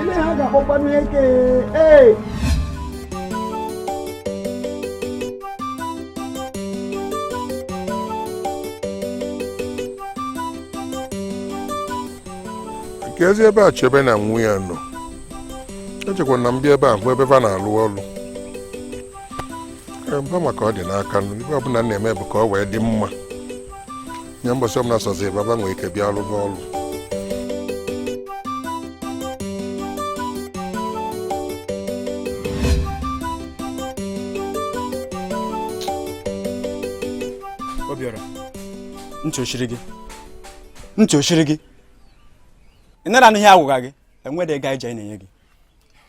ele ha ga-akpọkwanụ eke ee ka ezi ebe a chebe na nwa ya nọ echekwa na m bịa ebe a bụ ebe va na-alụ ọlụ mba maka ọ dị n'aka nụ ive ọbụla m na-eme bụ ka ọ wee dị mma nye mbọsị ọbụla sọzi baba nwee ike bịa alụ n'ọlụ obiọra ntị o chiri gị ntị o chiri gị ị nara anụ ihe a gwaga gị enwede ego anyị ji anyị na-enye gị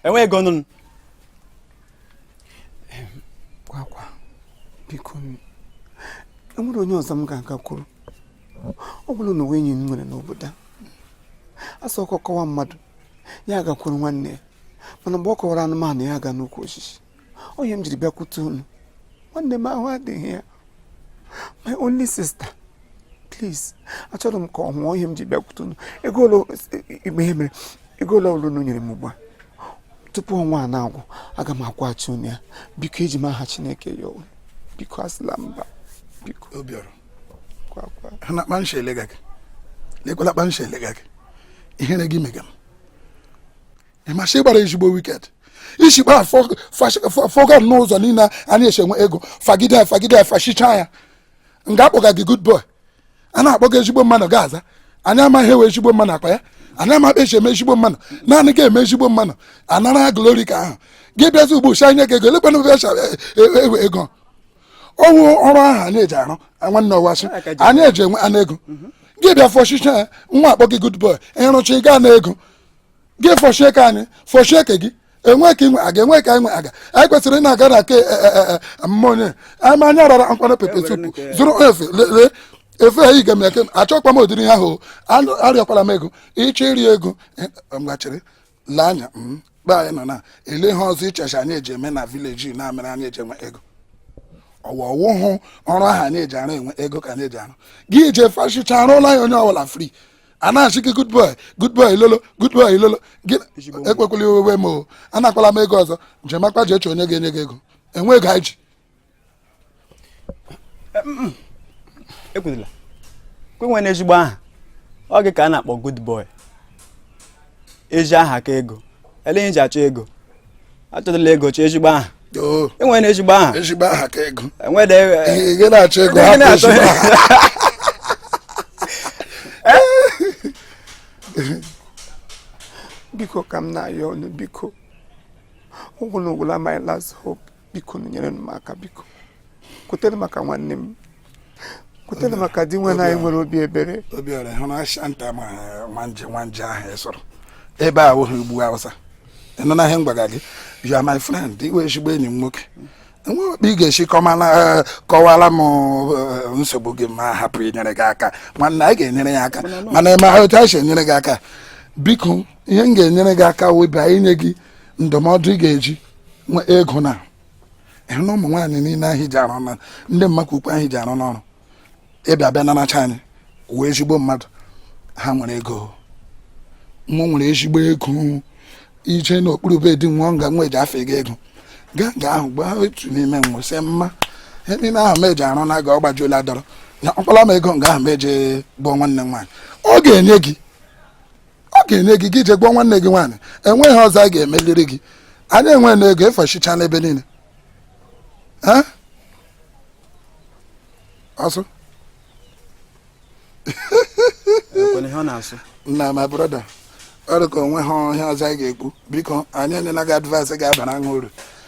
enwe ego nụ gwagwa biko enwere onye ọzọ m ga-agakwuru ọ bụrụ na o nwe enyi m nwere n'obodo a a sị ọkọ kọwa mmadụ ya agakwuru nwanne ya mana mgbe ọ kọwara anụmanụ ya aga n'ukwu osisi ọ ihe m jiri bịakwute unu nwanne m ahụ adịghị ya my only sister please achọrọ m ka ọ nwụọ ọ ihe m ji bịakwute unu ego ole ọbụla unu nyere m ugbu a tupu ọnwa a na-agwụ aga m akwụghachi unu ya biko eji m aha chineke ayọ unu biko asịla mba biko obiọra ị hụna kpa m si elega gị lekwala kpa m si elega gị ihere gị mega m ị ma sị ị gbara ezigbo wicked ị si kpa fọga n'ụzọ niile anyị esi enwe ego fagide fagide fachicha ya nga a kpọga gị good boy a na-akpọ gị ezigbo mmanụ gị aza anyị amaghị ewe ezigbo mmanụ akpa ya anyị amaghị esi eme ezigbo mmanụ naanị gị eme ezigbo mmanụ anara glory ka ahụ gị bịazi ugbu a sị e nye gị ego elekwana ebe echa e, e, ewe ego ọ wụ ọrụ ahụ anyị eji arụ nwanne ọwasị anyị eji enwenụ ego gị bịa fọchicha ya nwa akpọ gị good boy ị rụcha ị gaa na ego gị fọchie nke anyị fọchie nke gị enwe ka inwe aga enwe ka inwe aga anyị kwesịrị ịna aga na ke e, e, e, amụma onye ama anya rara nkwana pepper soup zụrụ efe lee efe ha iga m eke achọkwa m ụdịrị ihe ahụ arịọkwala m ego ịchọ iri ego mgbachiri lee anya mgbe anyị nọ na ele ihe ọzọ ị che sị anyị eji eme na village na-amere anyị eji enwe ego ọ wa ọ wụhụ ọrụ ahụ anyị eji arụ enwe ego ka anyị eji arụ gị jee fashicha arụla ya onye ọbụla free a na-asị gị good boy good boy lolo good boy lolo gị ekwekwala iwe wee m o anakwala m ego ọzọ jemakwa je chọọ onye ga-enye gị ego enwe ego anyị ji ekwudila kwenwe n'ezigbo aha ọ gị ka a na-akpọ good boy ezi aha ka ego ele ihe ji achọ ego achọdịla ego chọọ ezigbo aha enwere na ezigbo aha ezigbo aha ka ego enwere ihe na-achọ ego hapụ ezigbo aha biko ka m na-ayọ unu biko ọ wụ unu wụla my last hope biko nyere m aka biko kwetere maka nwanne m kwetere maka dinwenụ anyị nwere obi ebere obiọra hụrụ asha nta ma nwanje nwanje ahụ ị sọrọ ebe a wụghị ugwu awụsa ị nụna ihe m gwara gị you are my friend ị wụ ezigbo enyi m nwoke enweghị okpe ị ga-esi eh, kọwara m eh, nsogbu gị mụ ahapụ inyere gị aka nwanne anyị ga-enyere gị aka mana ị ma otu anyị si enyere gị aka biko ihe m ga-enyere gị aka wụ inye gị ndụmọdụ ị ga-eji nwe ego na ị hụna ụmụ nwaanyị niile ahụ ji arụ na ndị mmadụ ukwu ahụ ji arụ n'ọrụ ịbịa bịa naracha anyị wụ ezigbo mmadụ ha nwere ego mụ nwere ezigbo ego i jee n'okpuru be di nwa nga nwa eji achọ ego ego gaa nga ahụ gbaa otu n'ime nwe sị mma ihe niile ahụ m ji arụ na aga ọ gbajuola dọrọ na ọkpala m ego nga ahụ m jee gbuo nwanne m nwaanyị ọ ga-enye gị ọ ga-enye gị gị jee gbuo nwanne gị nwaanyị o nweghị ihe ọzọ a ga-emeliri gị anyị enwe na ego efechicha n'ebe niile so nna my brother ọ dị ka o nweghị ihe ọzọ anyị ga-ekwu biko anyị enyela gị advice ga-abara gị uru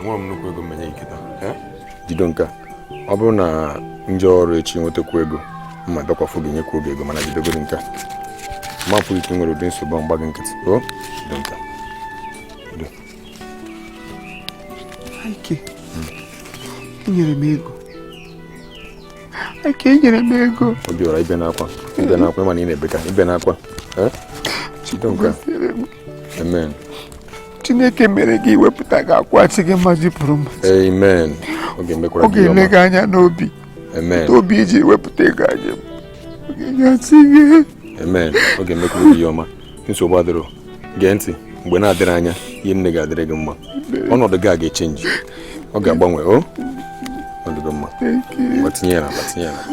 enwerọ m nnukwu ego m enye gị kịta jido nke a ọ bụrụ na m jee ọrụ echi nwetakwu ego m abịakwa fụ gị nyekwuo gị ego mana jidegodi nke a m ma afụ ka i nwere ụdị nsogbu m gbaa gị nkịtị o jido nke a nyere m ego aka enyere m ego obiọra ebena akwa ebena akwa ị ma na ị na-ebeka ebena akwa amen chineke mere gị i wepụta ga-akwụghachi gị mmaji kwuru mmaji amen ọ ga-ele gị anya n'obi amen obi i ji wepụta ego anyị ọ ga-enyesi gị amen ọ ga-emekwara gị ihe ọma nsogbu adịrọ gee ntị mgbe na-adịrọ anya ihe niine ga-adịrị gị mma ọnọdụ gị a ga-achenji ọ ga-agbanwe o ọ dịgo mma ngwa tinye ya n'akpa tinye ya n'akpa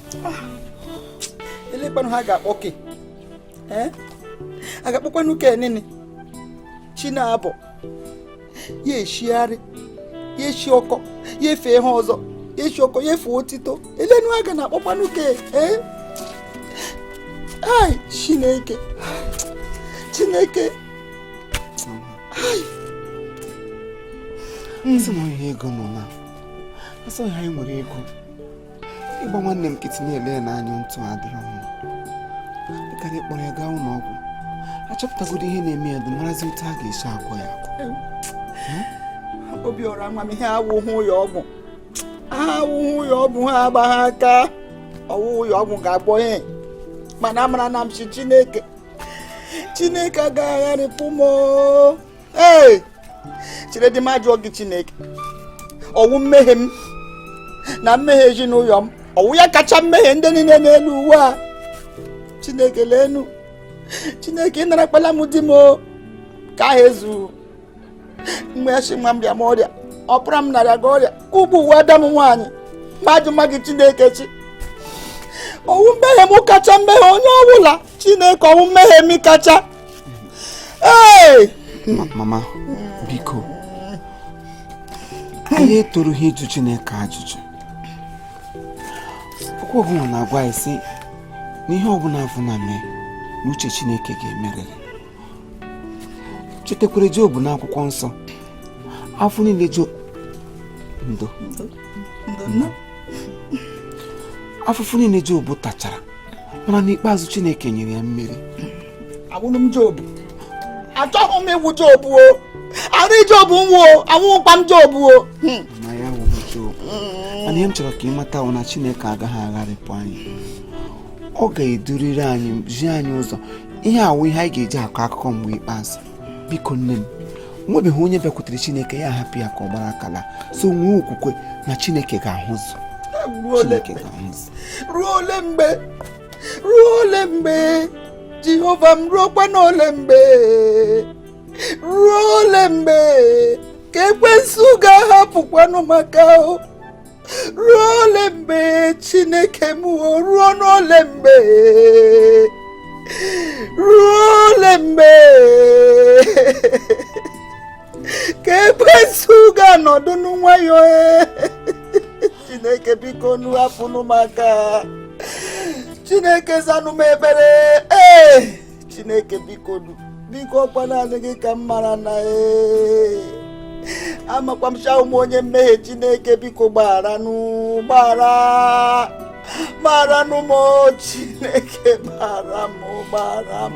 elekwanụ ihe a ga-akpọ ke a ga-akpọkwanụ ke nini chi na-abọ ya eshigharịa ya eshi ọkọ ya efe ihe ọzọ ya eshi ọkọ ya efe otito elenụ ihe a ga na-akpọkwanụ ke ee ai chineke chineke ai nsị m ihe ego nọ na asọghị anyị nwere ego ịgba nwanne m nkịtị na-ele ya n'anya ntụ adịrọ mma dịka anyị kpọrọ ya gaa ụlọ ọgwụ achọpụtagodo ihe na-eme ya dị marazi otu a ga-esi agwọ ya Obiọra ama m ihe a awụhụ ya ọgwụ awụhụ ya ọgwụ ha agbagha aka ọwụhụ ya ọgwụ ga-agwọ ya mana amara na m ji chineke chineke agaghị agharịpụ m ee cheredi m ajụọ gị chineke ọwụ mmehie m na mmehie ezinụlọ m ọwụ ya kacha mmehie ndị niile n'elu ụwa a chineke leenu chineke ị narakpala m di m nke ahụ ezu mgbe ya si nwa m rịa ọrịa ọpara m na-arịaga ọrịa ka ugbu a wụ ada m nwaanyị m ajụma gị chineke chi ọwụ mmehie m kacha mmehie onye ọbụla chineke ọwụ mmehie m kacha mama biko anyị etoruha ịjụ Chineke ajụjụ okwu ọbụla na-agwa anyị sị na ihe ọbụla afụ na-eme na uche Chineke ga-emerịrị chetakwara Job na akwụkwọ nsọ afọ niile Job ndo afụfụ niile Job tachara mana n'ikpeazụ Chineke nyere ya mmeri awụhụ m jobu achọghị m ịwụ jobu o arụ ijobu nwụọ awụhụkwa m jobu o hmm. na ya wụ jobu hmm. mana ihe m chọrọ ka ị mata wụ na Chineke agaghị agharịpụ anyị ọ ga-eduriri anyị zi anyị ụzọ ihe a wụ ihe anyị ga-eji akọ akụkọ mgbe ikpeazụ biko nne m nwebeghị onye bịakwutere chineke ya hapụ ya ka ọ gbara aka laa so nwee okwukwe na chineke ga-ahụzụ chineke ga-ahụzụ ruo ole mgbe ruo ole mgbe jehova m ruokwa n'ole mgbe ruo ole mgbe ka ekwensu ga-ahapụkwanụ m aka o ruo ole mgbe chineke m o ruo n'ole mgbe ruo ole mgbe ka ekwensu ga-anọdụnụ nwayọọ e. chineke biko nu hapụnụ m aka chineke zanụ m ekpere ee chineke biko nu biko ọkwa naanị gị ka m mara na ee amakwa m shị awụ m onye mmehie chineke biko gbagharanụ gbaghara gbagharanụ m Chineke gbaghara m gbaghara m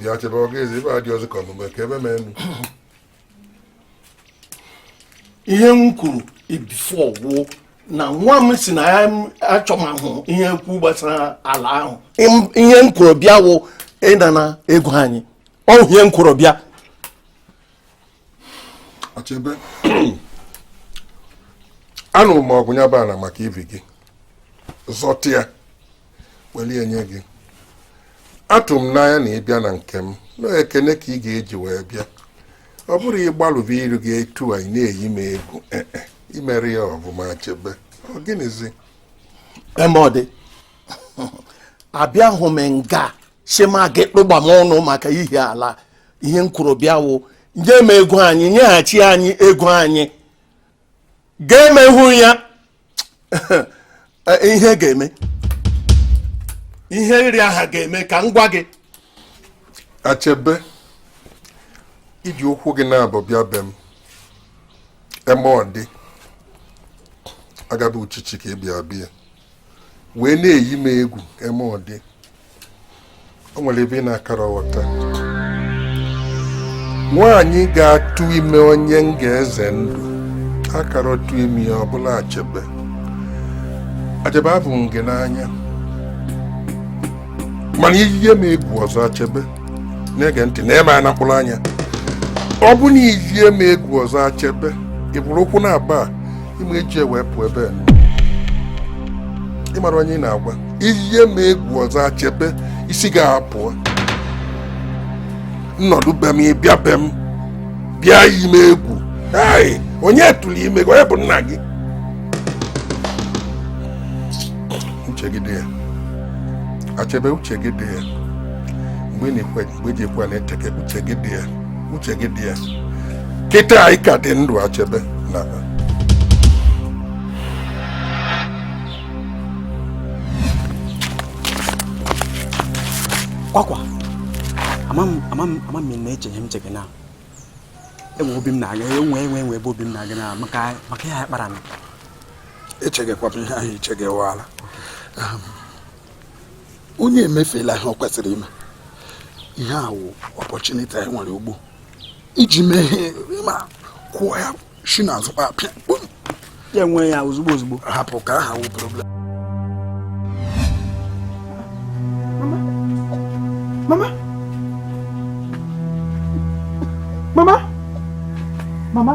bịa Achebe ọ ga-eze ibe adị ọzọ ka ọmụme ka ebe mee ihe m kwuru before wụ na nwa m si na ya achọmahụ ihe kwu gbasara ala ahụ ihe m kwuru bịa wụ ịnara ego anyị ọ ihe m kwuru bịa Achebe anụrụ m ọgụ ya bụ ala maka ihi gị zọta ya weli nye gị atụ m n'anya na ị bịa na nke m na ekene ka ị ga-eji wee bịa ọ bụrụ ị gbalụba iru gị etu a ị na-eyi m egwu eh, eh, i mere ya ọ bụ m Achebe ọ gịnịzi Emodi abịahụ m nga shema gị kpụgba m ọnụ maka ihi ala ihe m kwuru bịa wụ nye m ego anyị nyeghachi anyị ego anyị ga-emehụ ya eh, ihe ga-eme ihe nri aha ga-eme ka m gwa gị Achebe i ji ụkwụ gị naabọ bịa be m Emodi agaba uchichi ka ị bịa bịa wee na-eyi m egwu Emodi o nwere ihe ị na-akara aghọta nwaanyị ga-atụ ime onye m ga-eze ndụ akara atụ ime ya ọbụla Achebe Achebe ahụ m gị n'anya mana i yie m egwu ọzọ Achebe na-ege ntị na-ene m na mkpụrụ anya ọ bụ na i yie m egwu ọzọ Achebe i buru ụkwụ naabọ a ị ma eji wee pụọ ebe ị mara onye ị na-agwa i yie m egwu ọzọ Achebe isi gị apụọ m nọdụ be m ị bịa be m bịa yi m egwu onye tụrụ ime gị onye bụ nna gị uche gị dị ya Achebe uche gị dị ya mgbe ị na-ekwe mgbe eji ekwe na-eteke uche gị dị ya uche gị dị ya kịta a ị ka dị ndụ Achebe na kwakwa mama mama mama ị na-eche ihe m chege na enwe obi m na-aga enwe enwe enwe ebe obi m na-aga na maka maka ya ọkpara m echegekwa m ihe ahụ ị chege waala onye emefela ihe ọ kwesịrị ime ihe a wụ opportunity anyị nwere ugbu a iji mee ihe ma kwụọ ya shi n'azụ kpapịa ya enwe ya ozugbo ozugbo hapụ ka aha wụ problem mama mama mama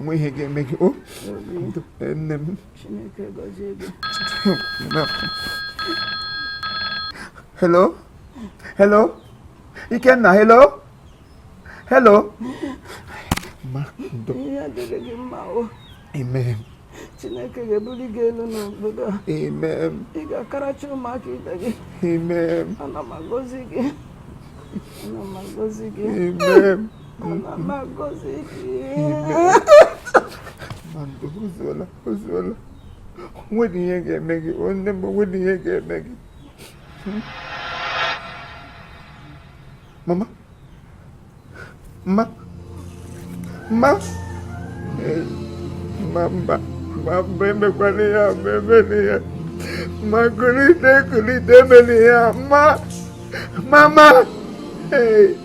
nwe ihe ga-eme gị o nne m hello hello ikenna hello hello ma ndo amen chineke ga-ebuli gị elu n'obodo a amen ị ga-akarịcha ụmụaka ibe gị amen ana m agọzi gị ana m agọzi gị amen nwere ihe ga-eme gị o nne m nwere ihe ga-eme gị mama mma mma mma mba mma mba emekwana ya mma emena ya mma kulite kulite emena ya mma mama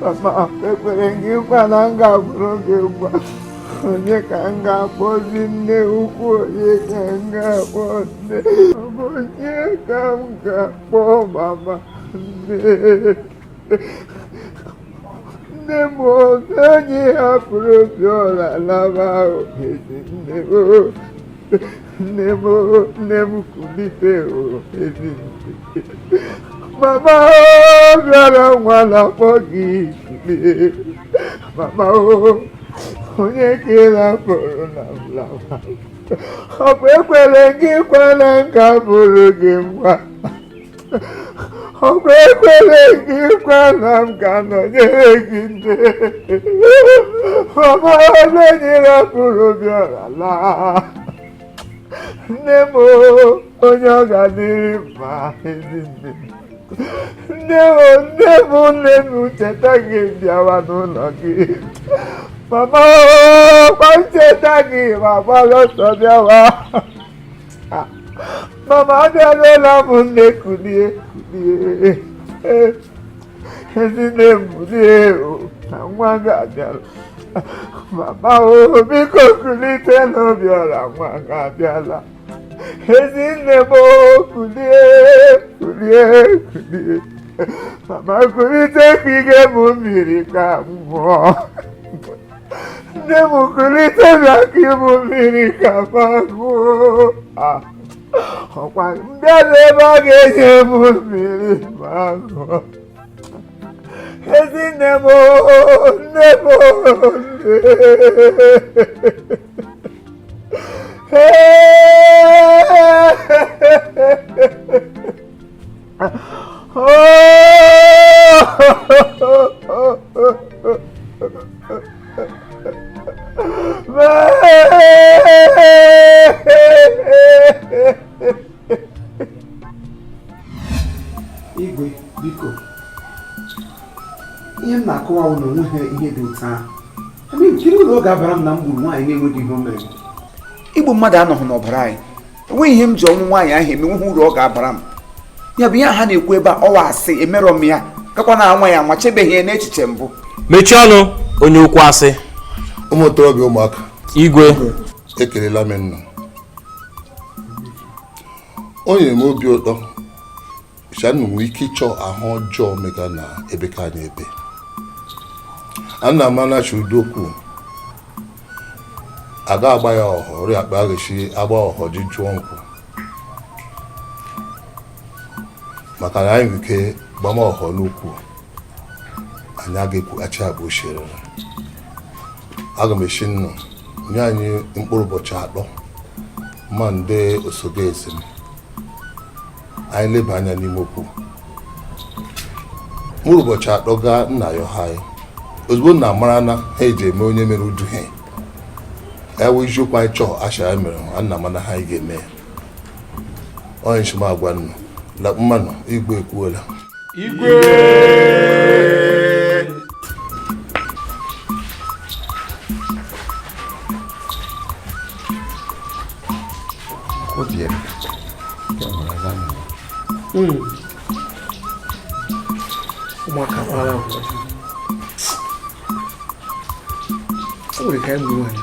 mama ekwere m gị nkwa na m ga-abụrụ gị nwa onye ka m ga-akpọzi nne ukwu onye ka m ga-akpọ nne onye ka m ga-akpọ mama nne nne m ọ bụ onye ị hapụrụ obiọra laba ezi nne m nne m nne m kulite ezi nne mama obiọra nwa na-akpọ gị kulie mama onye ka ị rapụrụ nna m lawa ọkwa ekwere m gị nkwa na m ga-abụrụ gị nwa ọkwa ekwere m gị nkwa na m ga-anọnyere gị nne mama onye ị rapụrụ obiọra laa nne m onye ọ ga-adịrị mma ezi nne nne m nne m nne m m cheta gị m bịawa n'ụlọ gị mama ọkwa m cheta gị m agbala ọsọ bịawa Ah, mama abịaruola m nne kulie kulie ezi nne m kulie na nwa gị abịara mama o biko kulite na obiọra nwa gị abịala ezi nne m kulie kulie kulie mama kulite ka ị nye mụ mmiri ka m Nne m kulite bịa ka ị nye mụ mmiri ka m ṅụọ ọkwa m bịa n'ebe a ị ga-enye m mmiri m aṅụọ ezi nne m nne m nne igwe biko ihe m na-akọwa bụ na onweghị ihe dị otu ahụ gịnị uru ọ ga-abara m na m gburu nwaanyị na-enweghị ihe o mere igbu mmadụ anọghị n'ọbara anyị enweghị ihe m ji ọnwụ nwaanyị ahụ eme nweghị uru ọ ga-abara m ya bụ ihe ha na-ekwu ebe a ọ wụ asị emerọ m ya gakwa na anwa ya anwa echebeghị ya n'echiche mbụ mechie ọnụ onye okwu asị ụmụ okorobịa ụmụaka igwe ekelela m nna o nyere m obi ụtọ Shanu nwere ike ịchọ ahụ ọjọọ mega na ebe ka anyị ebe ana m anachi ụdị okwu a ga-agba ya ọhọ ọrịa akpa aghachi agba ọhọ ji jụọ nkwụ maka na anyị nwere ike gbama ọhọ n'okwu anyị aga-ekwughachi agba ochierere aga m ashị unu nye anyị mkpụrụ ụbọchị atọ ma ndị osogo ezi m anyị leba anya n'ime okwu mkpụrụ ụbọchị atọ gaa nna ya ọha anyị ozugbo unu amara ihe e ji eme onye mere ụdị ihe ya wụ isiokwu anyị chọọ asha ya mere ha unu amana ihe anyị ga-eme ya onye shi m agwa unu la mmanụ igwe ekwuola igwe ụmụaka kpara o nwere ka anyị gburu nwaanyị